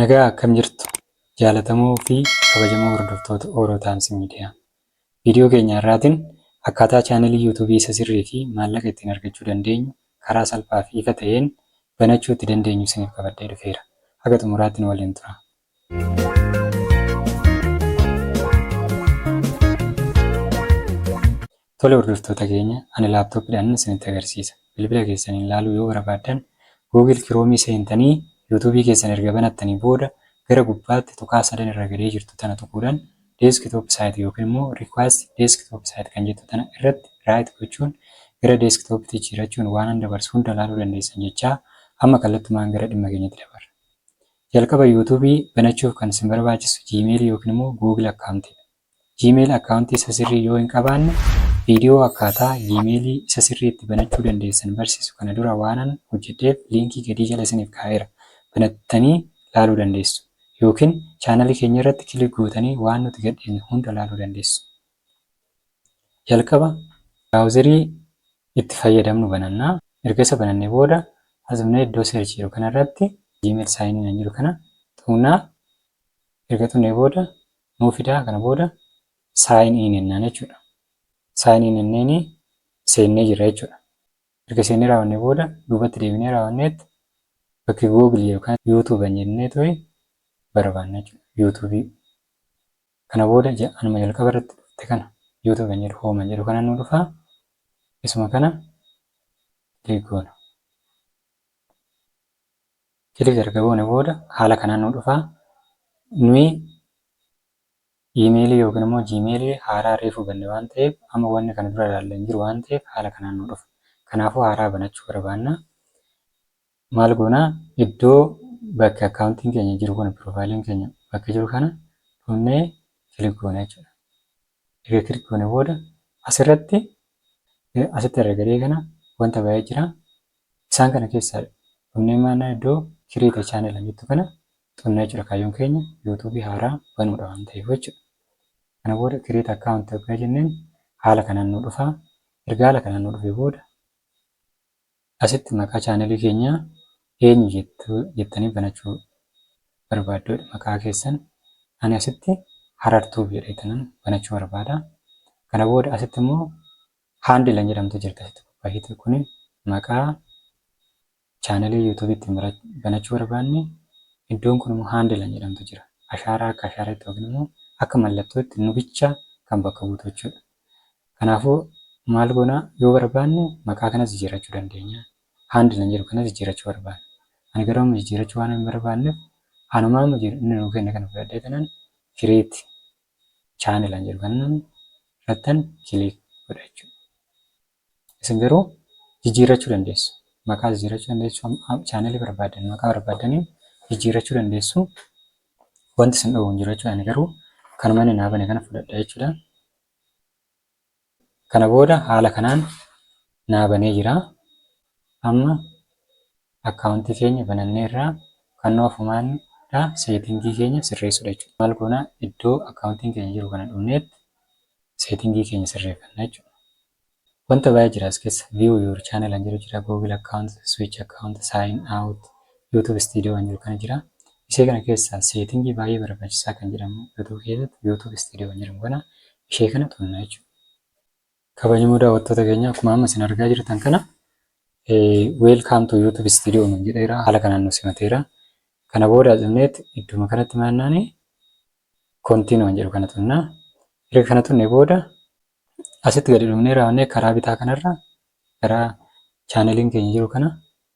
Nagaa akkam jirtu jaalatamoo fi kabajamoo hordoftoota Oro Times Media. Viidiyoo keenya har'aatiin akkaataa chaanelii YouTube isa sirrii fi maallaqa ittiin argachuu dandeenyu karaa salphaa fi ifa ta'een banachuu itti dandeenyu isiniif qabadhee dhufeera. Haga xumuraatti nu waliin tura. Tole hordoftoota keenya ani laptop dhaan isinitti agarsiisa. Bilbila keessaniin laaluu yoo barabaaddan Google Chrome seentanii YouTube keessan erga banattanii booda gara gubbaatti tuqaa sadan irra gadee jirtu tana tuquudhan Desktop site yookiin immoo Request Desktop site kan jettu tana irratti right gochuun gara Desktop tti jijjiirachuun waanan dabarsu hunda laaluu dandeessan jechaa amma kallattumaan gara dhimma keenyatti dabarra. Jalqaba YouTube banachuuf kan isin barbaachisu Gmail yookiin immoo Google Account dha. Gmail account isa sirrii yoo hin qabaanne, viidiyoo akkaataa Gmail isa sirrii itti banachuu dandeessan barsiisu kana dura waanan hojjedheef liinkii gadii jala isiniif kaa'eera, banattanii laaluu dandeessu. Yookiin channel keenya irratti click gootanii waan nuti gadhiifne hunda laaluu dandeessu. Jalqaba browser itti fayyadamnu bananna. Erga isa banannee booda as dhufnee iddoo search jedhu kana irratti Gmail sign in kan jedhu kana tuqna. Erga tuqnee booda nuu fidaa kana booda sign in jennaan jechuudha. Sign in jenneeni seennee jirra jechuudha. Erga seennee raawwannee booda duubatti deebinee raawwanneet bakki Google yookaan YouTube jennee turi barbaanna jechuudha. YouTube kana booda anuma jalqaba irratti dhufte kana YouTube kan jedhu home jedhu kana nu dhufa. Isuma kana click goona. Click erga goone booda haala kanaan nu dhufa. Nuyi email yookiin immoo gmail haaraa reefu banne waan ta'eef amma wanni kana dura ilaalle hin jiru waan ta'eef haala kanaan nu dhufa. Kanaafuu haaraa banachuu barbaanna. Maal goona iddoo bakki akkaawuntiin keenya jiru kun piroofaayiliin keenya bakka jiru kana dhufnee click goona jechuudha. Erga click goone booda asirratti asitti argaa kana wanta baay'ee jira. Isaan kana keessaa Thumbnail maannaa iddoo Create a Channel kan jettu kana tuqnee jechuudha. Kaayyoon keenya YouTube haaraa banuudha waan ta'eef jechuudha. Kana booda Create Account ergaa jenneen haala kanaan nu dhufa. Erga haala kanaan nu dhufee booda asitti maqaa channel keenyaa eenyu jettu jettanii banachuu barbaaddu jedha. Maqaa keessan ani asitti Harar Tube jedhee tanan banachuu barbaada. Kana booda asitti immoo Handle kan jedhamtu jirti asitti qophaa'eeti. Kuni maqaa chaanalii YouTube ittiin bara- banachuu barbaanne iddoon kun immoo handle kan jedhamtu jira. Ashaaraa akka ashaaraatti yookiin immoo akka mallattootti nu bicha kan bakka buutu jechuudha. Kanaafuu maal goona yoo barbaanne maqaa kanas jijjiirrachuu dandeenya. Handle kan jedhu kanas jijjiirrachuu barbaanna. Ani garuu amma jijjiirrachuu waan hin barbaanneef anuma amma jiru inni nuu kenne kana fudhadhee tanan create channel an jedhu kana irrattan click godha jechuudha. Isin garuu jijjiirrachuu dandeessu. Maqaa jijjiirrachuu dandeessu. Channel barbaaddan maqaa barbaaddaniin jijjiirrachuu dandeessu. Wanti isin dhowwu hin jiru jechuudha. Ani garuu kanuma inni naa bane kana fudhadha jechuudha. Kana booda haala kanaan naa banee jira. Amma account keenya bananneerra. Kannoo ofumaan dha setting keenya sirreessudha jechuudha. Maal goona iddoo account keenya jiru kana dhufneet setting keenya sirreeffanna jechuudha. Wanta baay'ee jira as keessa view your channel kan jedhu jira google account, switch account, sign out, youtube studio kan jedhu kana jira. Isee kana keessaa setting baay'ee barbaachisaa kan jedhamu youtube keessatti youtube studio kan jedhamu kana ishee kana qabna jechuudha. Kabajamoo daawwattoota keenya akkuma amma isin argaa jirtan kana weelkaam tu yuutuub istiidiyoo nuun jedheera haala kanaan nu simateera. Kana booda cimneet idduma kanatti maannaan kontiinuu kan jedhu kana tunna. Erga kana tunne booda asitti gadi dhumnee raawwannee karaa bitaa kanarra karaa chaaneliin keenya jiru kana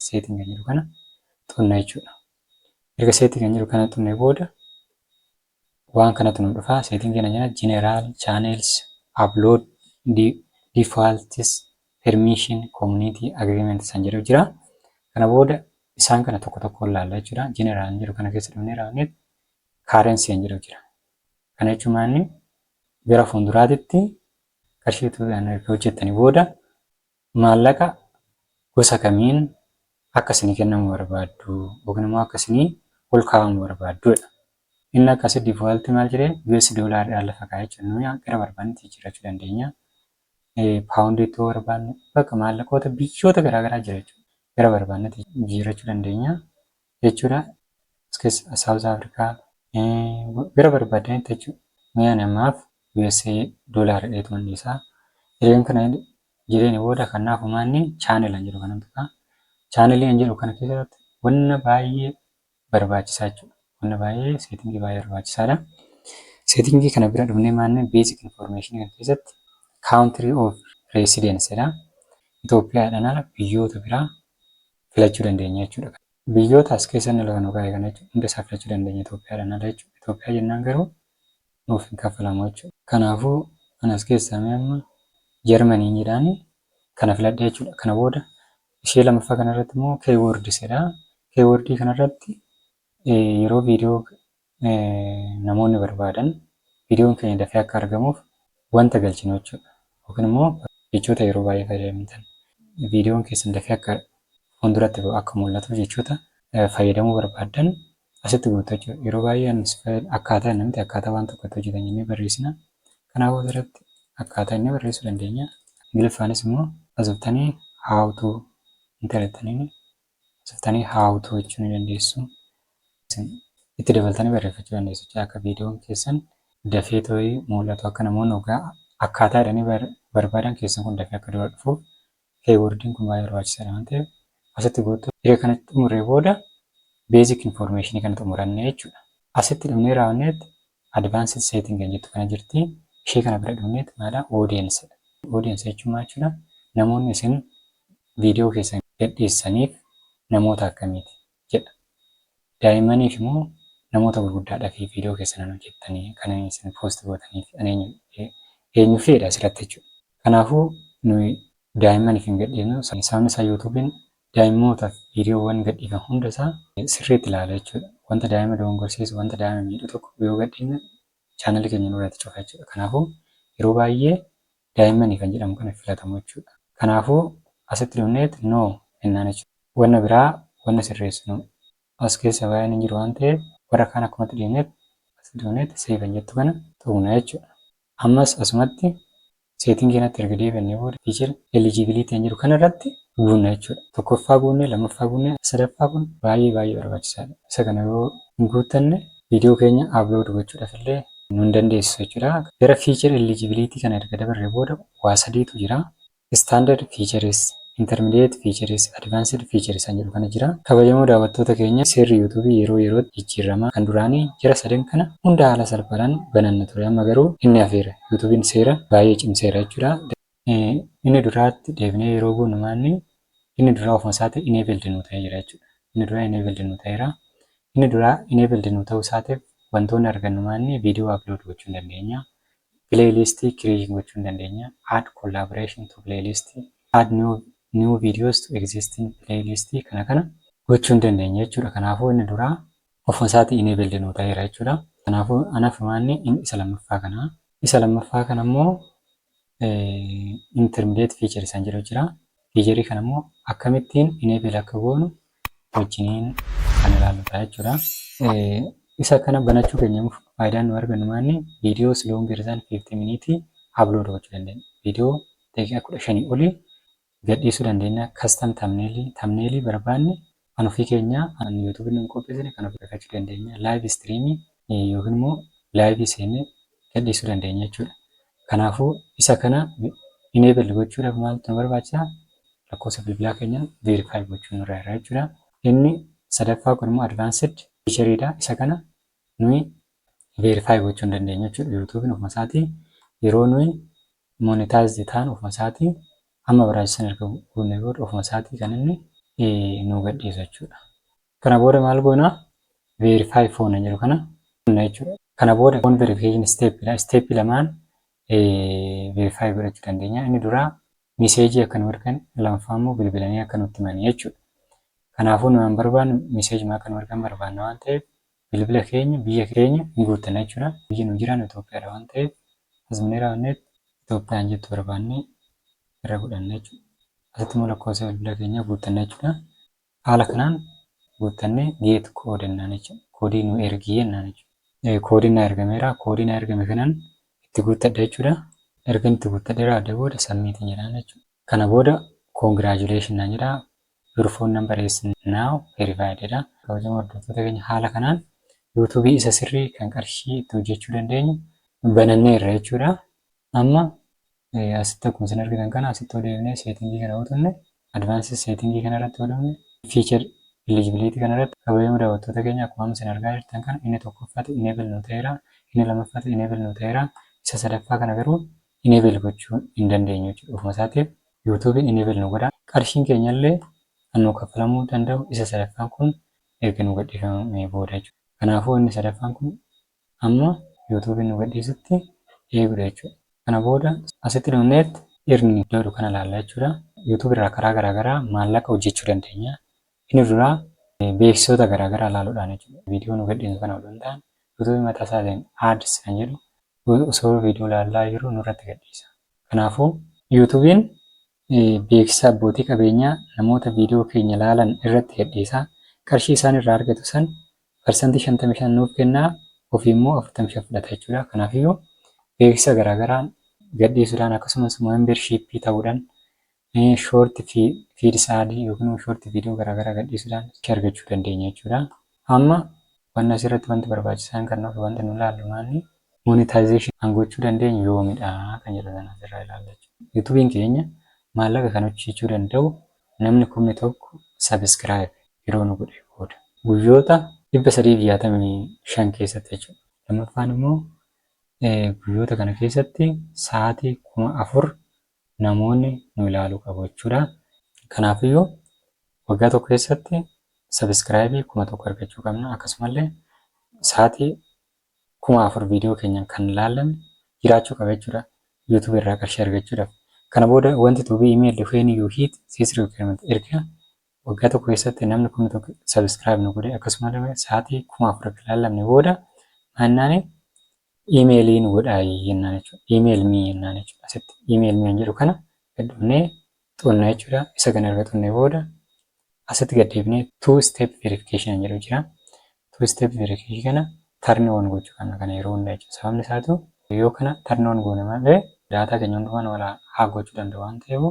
seetiin kan jiru kana tunna jechuudha. Erga seetii kan jiru kana tunne booda Waan kanatu nu dhufa setting kana jala general channels upload defaults permission community agreement san jedhu jira kana booda isaan kana tokko tokkoon laalla jechuudha general jedhu kana keessa dhufnee raawwanne currency kan jedhu jira kana jechuun maanni gara fuulduraatitti qarshii tuudhaan erga hojjettanii booda Maallaqa gosa kamiin akka isinii kennamu barbaaddu yookiin immoo akka isinii ol kaa'amu barbaaddu jedha. Inni akkasi default maal jedhee US dollar dhaan lafa kaa'e jechuudha. Nuyi gara barbaannetti jijjiirrachuu dandeenya. Pound itti yoo barbaanne bakka maallaqoota biyyoota garaagaraa jira jechuudha. Gara barbaannetti jijjiirrachuu dandeenya. jechuudha as keessa South Africa bira barbaadanitti jechuudha mee ani ammaaf USA dollar dheetuman dhiisaa jireen kana jireen booda kanaaf umaanni channel an jedhu kanan tuqaa channel an jedhu kana keessatti wanna baay'ee barbaachisaa jechuudha wanna baay'ee seetingii baay'ee barbaachisaadha seetingii kana bira dhufnee maanne basic information kan keessatti country of residence dha Itoophiyaadhaan ala biyyoota biraa filachuu dandeenya jechuu dha. Biyyoota as keessa inni lafa nu kaa'e kana jechuudha. Hunda isaa filachuu dandeenya Itoophiyaadhaan ala jechuudha. Itoophiyaa jennaan garuu nuuf hin kaffalamu jechuudha. Kanaafuu ani as keessaa mee amma Jarmaniin jedhaani kana filadhe jechuudha. Kana booda ishee lammaffaa kanarratti immoo keywords jedha. Keywords kanarratti yeroo viidiyoo namoonni barbaadan viidiyoon keenya dafee akka argamuuf wanta galchinu jechuudha. Yookiin immoo jechoota yeroo baay'ee fayyadamtan viidiyoon keessan dafee akka fuulduratti ba'u akka mul'atuuf jechoota fayyadamuu barbaaddan asitti guuttu jechuudha. Yeroo baay'ee anis fayyad- akkaataa inni miti akkaataa waan tokko itti hojjetan jennee barreessina. Kanaafuu asirratti akkaataa inni barreessuu dandeenya. Ingiliffaanis immoo as dhuftanii how to interattaniin Asirtanii how to jechuu ni dandeessu. Isin itti dabaltanii barreeffachuu dandeessu jechuudha. Akka viidiyoon keessan dafee tooyi mul'atu akka namoonni ogaa akkaataa jedhanii bar- barbaadan keessan kun dafee akka dura dhufuuf keeywordiin kun baay'ee barbaachisaadha waan ta'eef asitti goottu. Erga kana xumurree booda beezik infoormeeshinii kana xumuranne jechuudha. Asitti dhumnee raawwanneetti Advanced setting kan jettu kana jirti. Ishee kana bira dhufneet maadha audience dha. Audience jechuun maal jechuudha? Namoonni isin viidiyoo keessan gadhiissaniif namoota akkamiiti? jedha. Daa'immaniif moo namoota gurguddaadhafi viidiyoo keessan kan hojjettani kan isin post gootaniif kan eenyu eenyufi jedha asirratti jechuudha. Kanaafuu nuyi daa'immaniif hin gadhiisnu. Sababni isaa Youtube'n Daa'immootaaf viidiyoowwan gadhiifamu hunda isaa sirriitti ilaala jechuudha. Wanta daa'ima dogongorsiisu, wanta daa'ima miidhu tokko yoo gadhiifne chaanalii keenya nurratti cufa jechuudha. Kanaafuu yeroo baay'ee daa'immanii kan jedhamu kana filatamu jechuudha. Kanaafuu asitti dhufneet no ennaan jechuudha. Wanna biraa wanna sirreessinu as keessa baay'een hin jiru waan ta'eef warra kaan akkumatti dhiifneet asitti dhufneet save kan jettu kana tuqna jechuudha. Ammas asumatti setting kanatti erga deebi'annee booda feature eligibility kan jedhu kanarratti guunna jechuudha. Tokkoffaa guunnee, lammaffaa guunnee, sadaffaa kun baay'ee baay'ee barbaachisaadha. Isa kana yoo hin guuttanne video keenya upload gochuudhaaf illee nu hin dandeessisu jechuudha. Gara feature eligibility kana erga dabarree booda waa sadiitu jira. Standard features, intermediate features, advanced features kan jedhu kana jira. Kabajamoo daawwattoota keenya seerri youtube yeroo yerootti jijjiirrama. Kan duraanii jara sadan kana hunda haala salphaadhaan bananna ture amma garuu inni hafeera. Youtuben seera baay'ee cimseera jechuudha. Inni duraatti deebinee yeroo buunu maalni inni duraa ofuma isaati enabled nuu ta'ee jira jechuudha. Inni duraa enabled nuu ta'eera. Inni duraa enabled nuu ta'uu isaatiif wantoonni argannu maalni video upload gochuu hin dandeenya. Playlist create gochuu ni dandeenya. Add collaboration to playlist, add new new videos to existing playlist kana kana gochuu ni dandeenya jechuudha. Kanaafuu inni duraa ofuma isaatii enabled nuu ta'eera jechuudha. Kanaafuu an afumaa inni in- isa lammaffaa kana. Isa lammaffaa kana immoo eh, intermediate feature isaan jedhu jira. Fiicharii kana immoo akkamittiin enable akka goonu wajjiniin kan ilaallu ta'a jechuudha. Isa kana banachuu keenya faayidaan nu argannu maanni viidiyoo siloon geerisaan 50 miniitii upload gochuu dandeenya. Viidiyoo daqiiqaa 15 olii gadhiisuu dandeenya. Custom thumbnail thumbnail barbaanne Kan ofii keenyaa kan youtube nuun qopheessine kan ofii keenyaa dandeenya live stream yookiin immoo live seennee gadhiisuu dandeenya jechuudha. Kanaafuu isa kana enable gochuudhaaf maaltu nu barbaachisa? Lakkoofsa bilbilaa keenya verify gochuun nurra jira jechuudha. Inni sadaffaa kun immoo advanced feature dha. Isa kana nuyi verify gochuu hin dandeenyu jechuudha. Youtube ofuma isaatii yeroo nuyi monetize taanu ofuma isaatii Amma baraacha sana erga guunnee booda ofuma isaatii kan inni nuu gadhiisu jechuudha. Kana booda maal goona? Verify phone kan jedhu kana tuqna jechuudha. Kana booda phone verification step dha. Step lamaan verify godhachuu dandeenya. Inni duraa miseejii akka nu ergan, lammaffaa immoo bilbilanii akka nutti himan jechuudha. Kanaafuu nuyi waan barbaannu miseejuma akka nu ergan barbaanna waan ta'eef Bilbila keenya biyya keenya ni guuttanna jechuudha. Biyyi nu jiraannu Itoophiyaadha waan ta'eef as mine raawwanneet Itoophiyaan jettu barbaannee irra godhanna jechuudha. Asitti immoo lakkoofsa bilbila keenyaa guuttanna jechuudha. Haala kanaan guuttannee geet kood jennaan jechuudha. Koodii nu ergi jennaan jechuudha. Koodiin na ergameera. Koodii na ergame kanan itti guuttadha jechuudha. Ergan itti guuttadhee raawwadhee booda submit jedhaan jechuudha. Kana booda congratulations naan jedha. Your phone number is now verified jedha. Kabajamoo hordoftoota keenya haala kanaan YouTube isa sirrii kan qarshii itti hojjechuu dandeenyu banannee irra jechuudha. Amma asitti akkuma isin argitan kana asitti odeefnee seetingii kana utunne advanced seetingii kana irratti odeefne feature eligibility kana irratti kabajamoo daawwattoota keenya akkuma amma isin argaa jirtan kana inni tokkoffati enable nu ta'eera inni lammaffati enable nu ta'eera isa sadaffaa kana garuu enable gochuu hin dandeenyu jechuudha ofuma isaatiif YouTube enable nu godha qarshiin keenya illee kan nu kaffalamuu danda'u isa sadaffaan kun erga nu gadhiifamee booda jechuudha kanaafuu inni sadaffaan kun amma YouTube nu gadhiisutti eegudha jechuudha kana booda asitti dhumneetti irni jedhu kana ilaalla jechuudha YouTube irraa karaa garaagaraa maallaqa hojjechuu dandeenya Inni duraa beeksisoota garaa garaa ilaaluudhaan jechuudha. Viidiyoo nu gadhiisnu kana odoo hin taane YouTube mataa isaatiin ads kan jedhu osoo viidiyoo ilaallaa jirru nurratti gadhiisa. Kanaafuu YouTube'n beeksisa abbootii qabeenyaa namoota viidiyoo keenya ilaalan irratti gadhiisa. Qarshii isaan irraa argatu san parsantii 55 nuuf kenna ofii immoo 45 fudhata jechuudha. Kanaafiyyuu beeksisa garaa garaa gadhiisuudhaan akkasumas membership ta'uudhaan Mee short feeds ad yookiin immoo short video garaagaraa gadhiisuudhaan itti argachuu dandeenya jechuudha. Amma wanna asirratti wanti barbaachisaan kan nuuf wanti nu ilaallu maanni monetization kan gochuu dandeenyu yoomidha kan jedhu sana asirraa ilaalla jechuudha. Yuutuubiin keenya maallaqa kan hojjechuu danda'u namni kumni tokko subscribe yeroo nu godhee booda. Guyyoota 365 keessatti jechuudha. Lammaffaan immoo guyyoota kana keessatti sa'aatii 4000 namoonni nu ilaalu qabu jechuudha. Kanaafiyyuu waggaa tokko keessatti sabiskiraayibii kuma tokko argachuu qabna. Akkasumallee sa'aatii kuma afur viidiyoo keenya kan ilaalame jiraachuu qaba jechuudha. YouTube irraa qarshii argachuudhaaf. Kana booda wanti to be emailed when you hit this requirement erga waggaa tokko keessatti namni kuma tokko sabiskiraayib nu godhe akkasumallee sa'aatii kuma afur akka ilaalamne booda maannaani Email nu godhaayi jennaan jechuudha. Email me jennaan jechuudha. Asitti email me kan jedhu kana gad dhufnee xuqna jechuudha. Isa kana erga xuqnee booda asitti gad deebinee two step verification kan jedhu jira. Two step verification kana turn on gochuu qabna kana yeroo hunda jechuudha. Sababni isaatu yoo kana turn on goone malee daataa keenya hundumaa nu haa gochuu danda'u waan ta'eef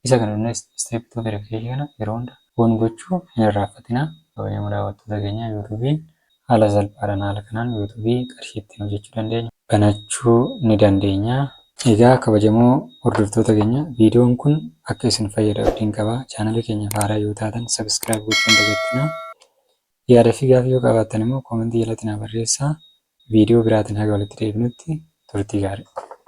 Isa kana dura step two verification kana yeroo hunda on gochuu hin irraanfatinaa. Kabajamoo daawwattoota keenyaa yuutuubiin haala salphaadhaan haala kanaan yuutuubii qarshii ittiin hojjechuu dandeenyu banachuu ni dandeenya. Egaa kabajamoo hordoftoota keenya viidiyoon kun akka isin fayyadu abdiin qaba. Chaanalii keenyaaf haaraa yoo taatan subscribe gochuu hin dagatinaa. Yaada fi gaafii yoo qabaattan immoo koomentii jalatti naa barreessaa. Viidiyoo biraatiin haga walitti deebinutti turtii gaarii.